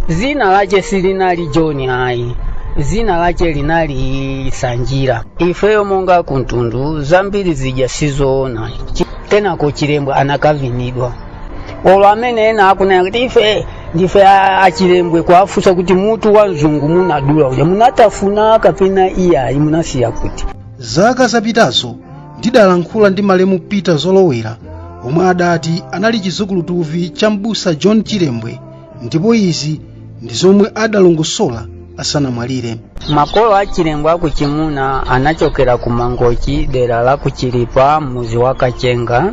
zina lace silinali joni ayi zina lace linali sanjira ifeyo monga akumtundu zambiri zija sizoona Chi- kenako chilembwe anakavinidwa olo amene ena akunena kuti ife ndife a- achilembwe kuafunsa kuti mutu wa mzungu munadula uja munatafuna kapena iyayi munasiya kuti zaka zapitazo ndidalankhula ndi malemu Peter Zolowera omwe adati anali chizukulutuvi cha mbusa John Chilembwe ndipo izi ndi zomwe adalongosola asanamwalire makolo a chilembwe a kuchimuna anachokera ku mangochi dera la kuchilipa mudzi wa kachenga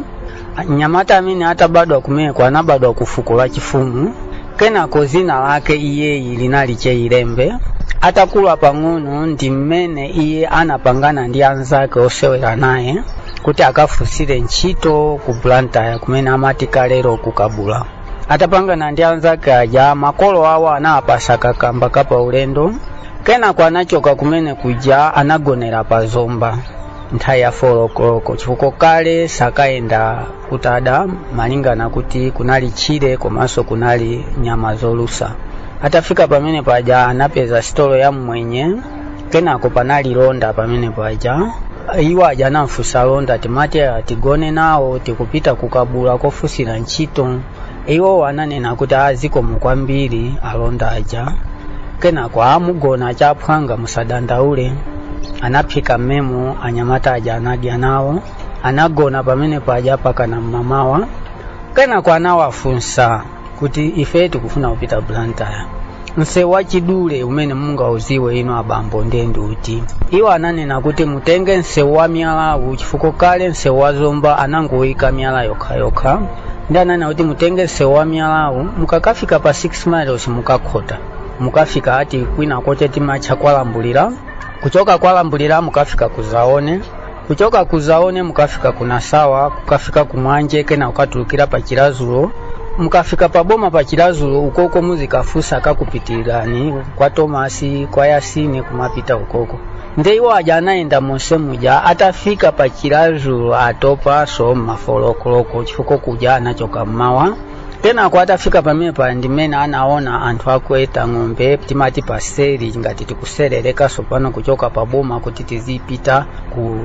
mnyamata amene atabadwa kumeneko anabadwa ku fuko la chifumu kenako dzina lake iyeyu linali che ilembe atakula pang'ono ndi mmene iye anapangana ndi anzake osewera naye kuti akafunsire ntchito ku blantyre kumene amati kalero kukabula atapangana ndi anzake aja makolo awo anawapasa kakamba ka paulendo kenako anachoka kumene kuja anagonera pa zomba nthawi ya folokoloko chifukwa kale sakayenda kutada malingana kuti kunali tchire komanso kunali nyama zolusa atafika pamene paja anapeza sitolo ya mmwenye kenako panali londa pamene paja iwo aja anamfunsa londa timati tigone nawo tikupita kukabula kofunsira ntchito iwo ananena kuti azikomo kwambiri alonda aja kenako aa mugona achaphwanga musadandaule anaphika mmemo anyamata aja anadya nawo anagona pamene paja pakana mmamawa kenako anawafunsa kuti ife tikufuna kupita blantyre msewu wachidule umene mungaudziwe inu abambo ndiye ndi uti iwo ananena kuti mutenge msewu wa miyalawu chifukwa kale msewu wa zomba anangoyika miyala yokhayokha ndiye ananena kuti mutenge msewu wa miyalawu mukakafika pa 6 miles mukakhota mukafika ati kwina kwache timatcha kwa Lambulira kuchoka kwa Lambulira mukafika ku zaone kuchoka ku zaone mukafika ku nasawa kukafika ku mwanje kena kukatulukira pa chilazulo mukafika pa boma pa chilazulo ukoko muzikafusa kupitirira kwa tomasi kwa yasini kumapita ukoko nde iwo aja anayenda monse muja atafika pa chilazulo atopaso mma folokoloko chifukwa kuja anachoka mmawa kenako atafika pamene paja ndimene anaona anthu akuweta ng'ombe timati paseri ngati tikusererekanso pano kuchoka pa boma kuti tizipita ku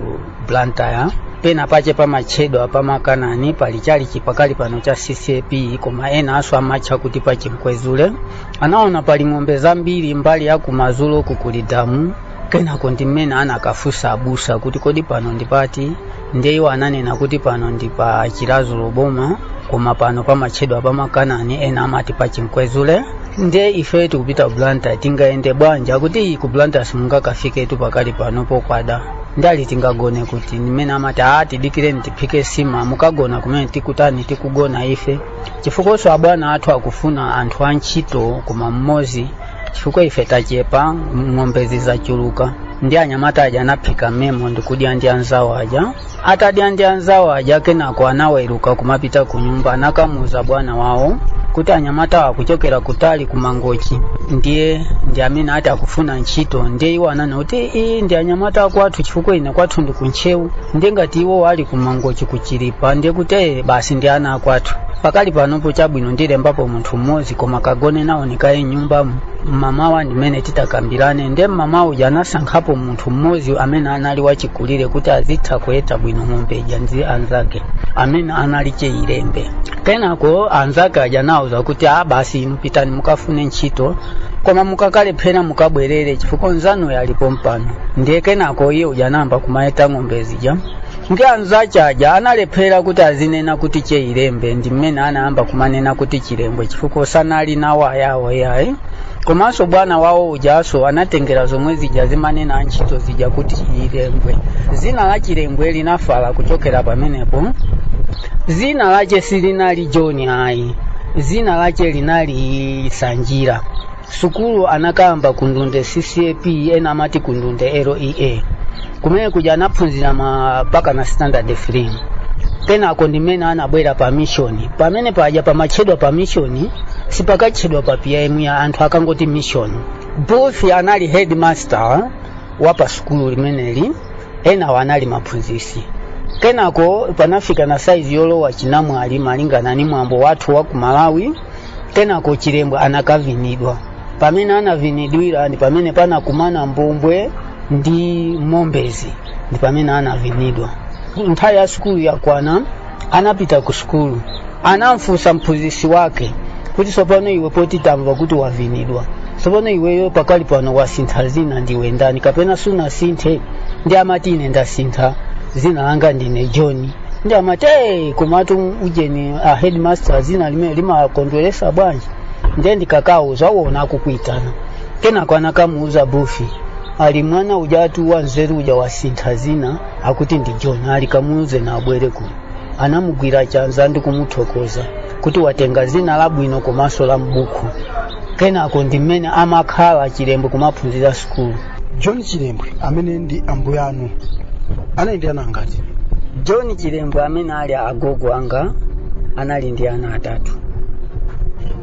blantyre pena pache pamatchedwa pamakanani pali chalichi pakali pano cha ccap koma enaso amatcha kuti pachimkwezule anaona pali ng'ombe zambiri mbali ya kumadzulo kuli damu kenako ndimene anakafunsa abusa kuti kodi pano ndi pati ndiye iwo ananena kuti pano ndi pa chilazulu boma koma pano pamatchedwa pamakanani ena amati pa chinkwezule ndiye ife tikupita ku blantyre tingayende bwanji akuti ku blantyre simungakafiketu pakali pano pokwada nde ali tingagone kuti ndi mmene amati aa tidikireni tiphike sima mukagona kumene tikutani tikugona ife chifukwanso abwana athu akufuna anthu antchito koma mmodzi chifukwa ife tachepa ng'ombezi zachuluka ndiye anyamata aja anaphika memo ndikudya ndi anzawo aja atadya ndi anzawo aja kenako anaweruka kumapita ku nyumba anakamuuza bwana wawo kuti anyamata akuchokera kutali ku mangochi ndiye ndi amene ati akufuna ntchito ndiye iwo ananena kuti iyi ndi anyamata akwathu chifukwa ine kwathu ndi ku ntcheu ndiye ngati iwo ali ku mangochi ku chilipa ndiye kuti "Eh, basi ndi ana akwathu pakali panopo chabwino ndilembapo munthu mmodzi koma kagone nawo ku nyumba mamawa ndimene titakambirane nde mamawa uja anasankhapo munthu mmodzi amene anali wachikulire kuti azitha kuweta bwino ng'ombe ija ndi anzake amene anali cheilembe kenako anzake aja anawuza kuti a basi inu pitani mukafune ntchito koma mukakalephera mukabwerere chifukwa nzanu ali pompano ndiye kenako iye uja anayamba kumaweta ng'ombe zija nde anzache aja analephera kuti azinena kuti cheilembe ndi mmene anayamba kumanena kuti chilembwe chifukwa sanali nawo ayawo yayi komanso bwana wawo ujaso anatengera zomwe zija amanena antchito zija kuti chilembwe zina la chilembwe linafala kuchokera pamenepo zina lache silinali john ayi zina lache linali sanjira sukulu anakayamba ku ndunde ccap ena amati ku ndunde lea kumene kuja anaphunzira mpakana standard 3 kenako ndimene anabwera pa mishoni pamene paja pamatchedwa pa mishoni sipakatchedwa pa pim iyayi anthu akangoti mishoni booth anali headmaster wa pa sukulu limeneli enawo anali maphunzisi kenako panafika na size yolowa chinamwali malingana ni mwambo wathu wa ku malawi kenako chilembwe anakavinidwa pamene anavinidwira ndi pamene panakumana mbombwe ndi mombezi ndi pamene anavinidwa nthawi ya sukulu yakwana anapita ku sukulu anamfunsa mphunzitsi wake kuti tsopano iwe poti tamva kuti wavinidwa tsopano iweyo pakali pano wasintha zina ndiwe ndani kapena sunasinthe nde amati ine ndasintha zina langa ndine john nde amati "Hey, komatu ujeni a headmaster zina limeneli limawakondweresa bwanji ndiye ndikakauza uwona akukuitana kenako anakamuuza booth ali mwana ujatu wa nzeru uja wasintha zina akuti ndi john ali kamuuze naye abwere kuno anamugwira chanza ndi kumuthokoza kuti watenga zina labwino komanso la mbuku kenako ndi mmene amakhala chilembwe kumaphunzira sukulu john chilembwe amene ndi ambuye anu anali ndi ana angati john chilembwe amene ali agogo anga anali ndi ana atatu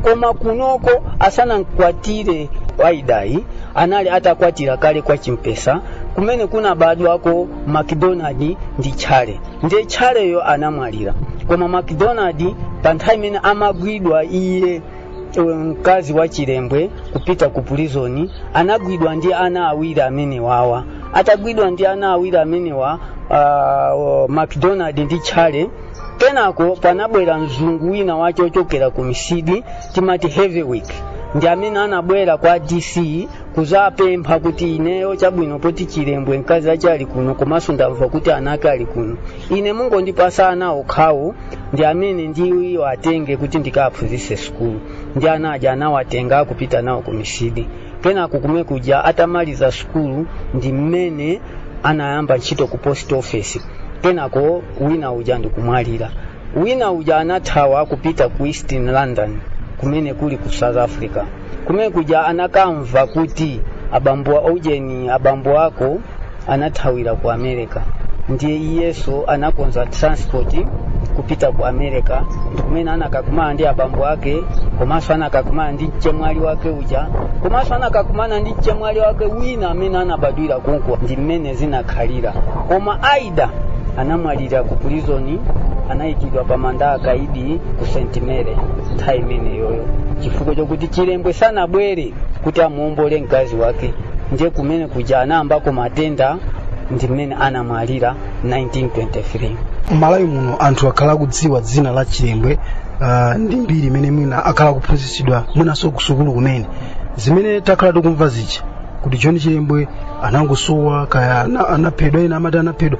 koma kunoko asanamkwatire waidayi anali atakwatira kale kwa chimpesa kumene kunabadwako macdonald ndi tchale ndiye tchaleyo anamwalira koma macdonald pa nthawi imene amagwidwa iye uyu mkazi wa chilembwe kupita ku pulizoni anagwidwa ndi ana awiri amenewawa atagwidwa ndi ana awiri amenewa uh, macdonald ndi charlie kenako panabwera mzungu wina wake wochokera ku mitsidi timati hetherwick ndi amene anabwera kwa dc kuzapempha kuti ineyo chabwino poti chilembwe mkazi ache ali kuno komanso ndamva kuti ana ake ali kuno ine mungondipasa ana okhawo ndi amene ndiwatenge kuti ndikawaphunzitse sukulu ndi ana aja anawatenga nkupita nawo ku mitsidi kenako kumene kuja atamaliza sukulu ndi mmene anayamba ntchito ku post office kenako wina uja ndikumwalira wina uja anathawa kupita ku east london kumene kuli ku south africa kumene kuja anakamva kuti abambo ujeni abambo ako anathawira ku america ndiye iyeso anakonza transport kupita ku america ndikumene anakakumana ndi abambo ake komanso anakakumana ndi mchemwali wake uja komanso anakakumana ndi mchemwali wake wina amene anabadwira konko ndi mmene zinakhalira koma aida anamwalira ku pulizoni anayikidwa pa manda akaidi ku st mary nthawi imeneyoyo chifukwa chokuti chilembwe sanabwere kuti amuombole mkazi wake ndiye kumene kuja anayambako matenda ndi mmene anamwalira 1923 m'malawi muno anthu akhala akudziwa dzina la chilembwe uh, ndi mbiri imene mwina akhala akuphunzitsidwa mwinanso kusukulu kumene zimene takhala tikumva zija kuti john chilembwe anangosowa kaya ana- anaphedwa ena amati anaphedwa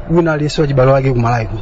wina aliyense wachibalo wake kumalawi kuno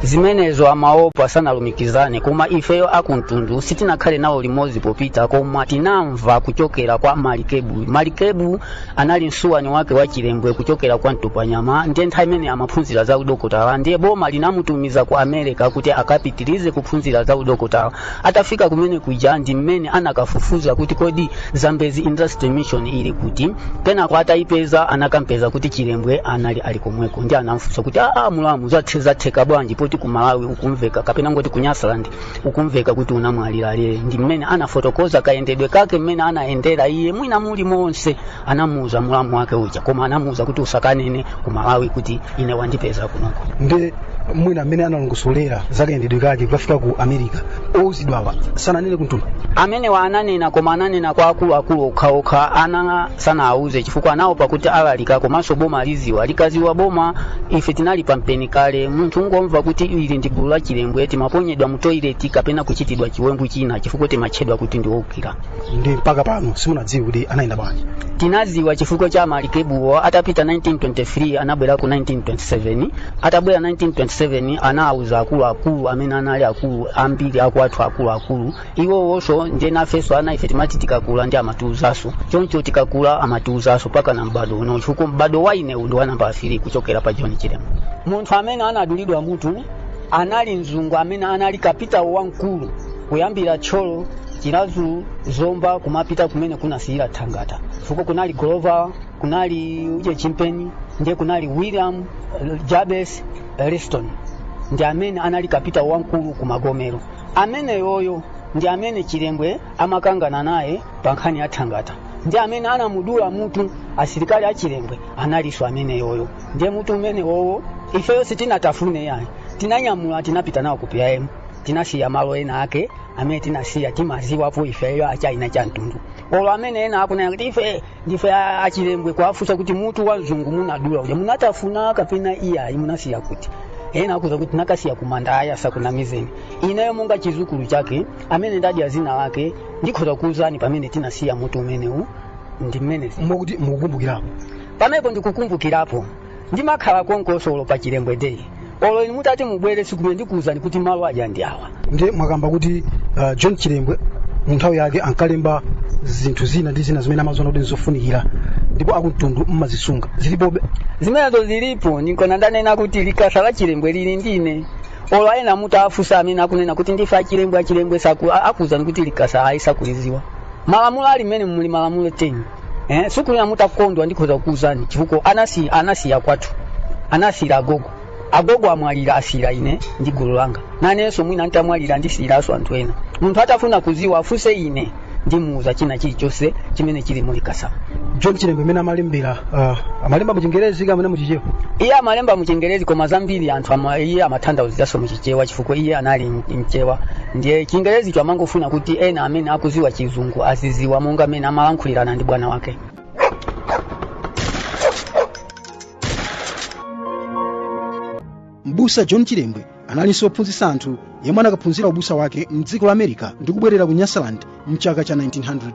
zimenezo amaopa sanalumikizane koma ifeyo akumtundu sitinakhale nawo limodzi popita koma tinamva kuchokera kwa malikebu malikebu anali msuwani wake wa chilembwe kuchokera kwa mtupanyama ndiye nthawi imene amaphunzira za udokotala ndiye boma linamutumiza ku america kuti akapitirize kuphunzira za udokotala atafika kumene kuja ndi mmene anakafufuza kuti kodi zambezi industrial mission ili kuti kenako atayipeza anakampeza kuti chilembwe analidi komweko ndiye anamfunsa kuti aa mulamu zatheka bwanji poti ku malawi ukumveka kapena ngoti ku nyasaland ukumveka kuti unamwalira kale ndi mmene anafotokoza kayendedwe kake mmene anayendera iye mwina muli monse anamuuza mulamu wake uja koma anamuuza kuti usakanene ku malawi kuti ine wandipeza kunoko nde mwina amene analongosolera za kayendedwe kake kukafika ku america ouzidwawa sananene kuntuma amenewa ananena koma ananena kwa akuluakulu okhaokha anawa sanawauze chifukwa anaopa kuti alalika komanso boma liziwa likaziwa boma ife tinali pampeni kale munthu ungomva kuti ili ndi gulu la chilembwe timaponyedwa mu toilet kapena kuchitidwa chiwembu china chifukwa timatchedwa kuti ndi oukira ndi mpaka pano simunadziwe kuti anayenda bwanji tinaziwa chifukwa cha amalikebuwo atapita 1923 anabwera ku 1927 atabwera 1927 anawuza akuluakulu amene anali akulu ambiri akwathu akuluakulu iwowonso ndiye nafenso ana ife timati tikakula ndi amatiwuzanso choncho tikakula amatiwuzanso mpaka na m'bado uno chifukwa m'bado wa inewu ndi wanamba three kuchokera pa john chilembwe munthu amene anadulidwa mutu anali mzungu amene anali kapitawo wamkulu kuyambira thyolo chiradzulu zomba kumapita kumene kunasiyira thangata fukwa kunali golova kunali uje chimpeni ndiye kunali william jervis liston ndi amene anali kapitawo wamkulu ku magomero ameneyoyo ndi amene chilembwe amakangana naye pa nkhani ya thangata ndi amene anamudula mutu asilikali a chilembwe analinso ameneyoyo ndiye mutu umenewowo ifeyo sitinatafune yayi tinanyamula tinapita nawo ku pim tinasiya malo ena ake amene tinasiya timaziwapo ifeyo achina cha mtundu olo amene ena akunena kuti ife ndife a- achilembwe kuwafunsa kuti mutu wa mzungu munadula uja munatafuna kapena iyayi munasiya kuti ena akuuza kuti anakasiya kumanda ayi asakunamizeni ineyo monga chizukulu chake amene ndadya zina lake ndikhoza kuuzani pamene tinasiya mutu umenewu ndi mmene mukuti mukukumbukirapo pamenepo ndikukumbukirapo ndimakhala konkoso olo pa chilembwe day olo inu mutati mubwere sikumene ndikuwuzani kuti malo aja ndi awa ndiye mwakamba kuti uh, john chilembwe mu nthawi yake ankalemba zinthu zina ndi zina zimene amaziona kuti nzofunikira ndipo akumtundu mmazisunga zilipobe zimenezo zilipo ndinkona ndanena kuti likasa la chilembwe lili ndine olo ena mutawafusa amene akunena kuti ndife achilembwe achilembwe saku- a- akuwuzani kuti likasa ayi sakuliziwa malamulo ali mmene muli malamulo 10 eh, sukunena mutakondwa ndikhoza kukuwuzani chifukwa anasi anasiya kwathu anasiyira agogo agogo amwalira asiyira ine ndi gulu langa nanenso mwina ntamwalira ndisiyiranso anthu ena munthu atafuna kuziwa afunse ine ndimuwuza china chilichonse chimene chili mulikasamu john chilembe mmene amalembera ah, amalemba mu chingerezi kapena mu chichewa iye amalemba mu chingerezi koma zambiri anthu ama, iye amathandauziranso mu chewa chifukwa iye anali mchewa ndiye chingerezicho amangofuna kuti ena amene akuziwa chizungu aziziwa monga mmene amalankhulirana ndi bwana wake mbusa john chilembwe analinso wophunzitsa anthu yemwe anakaphunzira ubusa wake mdziko la america ndi kubwerera ku nyasaland mchaka cha 1900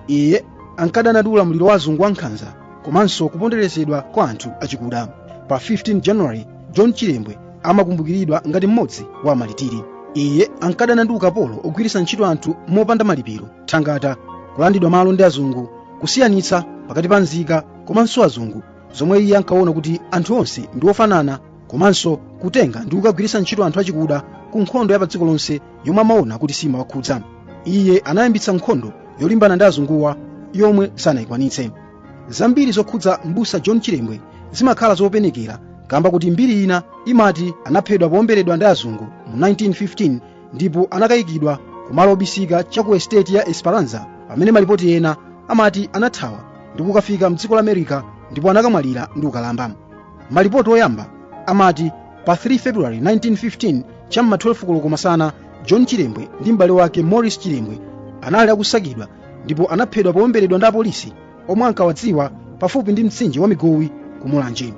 iye ankadana ndi ulamuliro wa azungu wa nkhanza komanso kuponderezedwa kwa anthu achikuda pa 15 january john chilembwe amakumbukiridwa ngati mmodzi wa amalitiri iye ankadana ndi ukapolo ogwiritsa ntchito anthu mopanda malipiro thangata kulandidwa malo ndi azungu kusiyanitsa pakati pa nzika komanso azungu zomwe iye ankaona kuti anthu onse ndi ofanana komanso kutenga ndi kukagwiritsa ntchito anthu achikuda ku nkhondo ya padziko lonse yomwe amaona kuti simawakhudza iye anayambitsa nkhondo yolimbana ndi azunguwa yomwe sanayikwanitse zambiri zokhudza mbusa john chilembwe zimakhala zopenekera kaamba kuti mbiri ina imati anaphedwa powomberedwa ndi azungu mu 1915 ndipo anakayikidwa kumalo obisika cha ku estate ya esperanza pamene malipoti ena amati anathawa ndi kukafika mdziko la america ndipo anakamwalira ndi ukalamba malipoti oyamba amati pa 3 february 1915 cha m'ma 12 koloko masana john chilembwe ndi m'bale wake morris chilembwe anali akusakidwa ndipo anaphedwa powomberedwa ndi apolisi omwe ankawadziwa pafupi ndi mtsinje wa migowi ku mulanje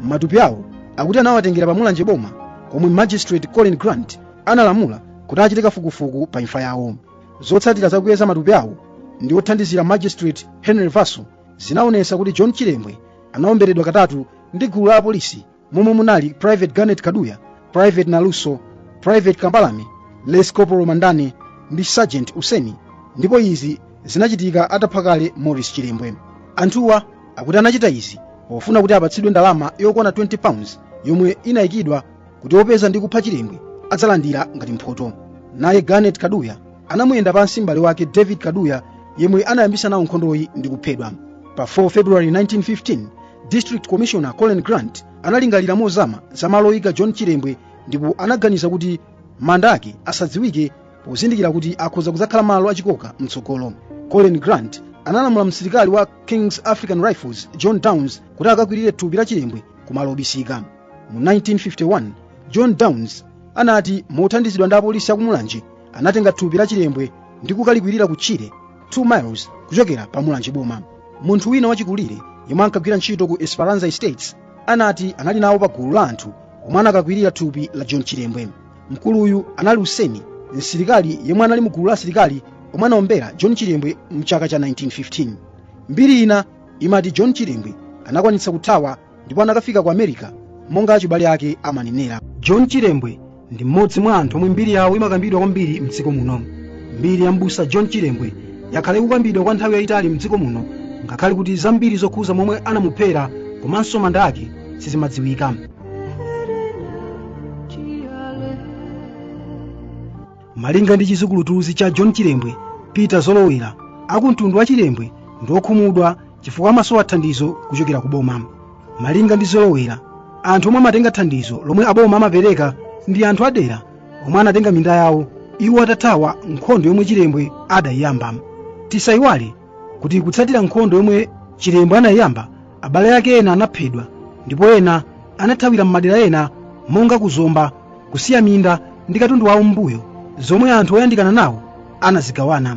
matupi awo akuti anawatengera pa mulanje boma komwe magistrate colin grant analamula kuti achite kafukufuku pa imfa yawo zotsatira za kuyeza matupi awo ndi othandizira magistrate henry vaso zinaonetsa kuti john chilembwe anaomberedwa katatu ndi gulu la apolisi momwe munali private garnet kaduya private naluso private kambalame lance corporal mandani ndi sergeant useni ndipo izi zinachitika atapha kale morris chilembwe anthuwa akuti anachita izi pakufuna kuti apatsidwe ndalama yokwana 20 pounds yomwe inayikidwa kuti opeza ndi kupha chilembwe adzalandira ngati mphoto naye garnet kaduya anamuyenda pansi m'bale wake david kaduya yemwe anayambisa nawo nkhondoyi ndi kuphedwa pa 4 february 1915 district commissioner colin grant analingalira mozama za malo oyika john chilembwe ndipo anaganiza kuti manda ake asadziwike pozindikira kuti akhoza kudzakhala malo achikoka mtsogolo colin grant analamula msilikali wa king's african rifles john downs kuti akakwirire thupi la chilembwe kumalo obisika mu 1951 john downs anati mothandizidwa ndi apolisi a ku mulanje anatenga thupi la chilembwe ndi kukalikwirira ku tchire 2 miles kuchokera pa mulanje boma munthu wina wachikulire yemwe ankagwira ntchito ku esperanza estates anati anali nawo pa gulu la anthu omwe anakakwirira thupi la john chilembwe mkuluyu anali useni msilikali yemwe anali mu gulu la asilikali omwe anaombera john chilembwe mchaka cha 1915 mbiri ina imati john chilembwe anakwanitsa kuthawa ndipo anakafika ku america monga achibale ake amanenera john chilembwe ndi mmodzi mwa anthu omwe mbiri yawo imakambidwa kwambiri mdziko muno mbiri ya mbusa john chilembwe yakhala ikukambidwa kwa nthawi yayitali mdziko muno ngakhale kuti zambiri zokhudza momwe anamuphera komanso manda ake sizimadziwika malinga ndi chizukulutuzi cha john chilembwe peter zolowera akumtundu wa chilembwe ndi okhumudwa chifukwa amasowa thandizo kuchokera ku boma malinga ndi zolowera anthu omwe amatenga thandizo lomwe aboma amapereka ndi anthu adera omwe anatenga minda yawo iwo atathawa nkhondo yomwe chilembwe anayiyamba tisayiwale kuti kutsatira nkhondo yomwe chilembwe anayiyamba abale ake ena anaphedwa ndipo ena anathawira m'madera ena monga ku zomba kusiya minda ndi katundu wawo m'mbuyo zomwe anthu oyandikana nawo anazigawana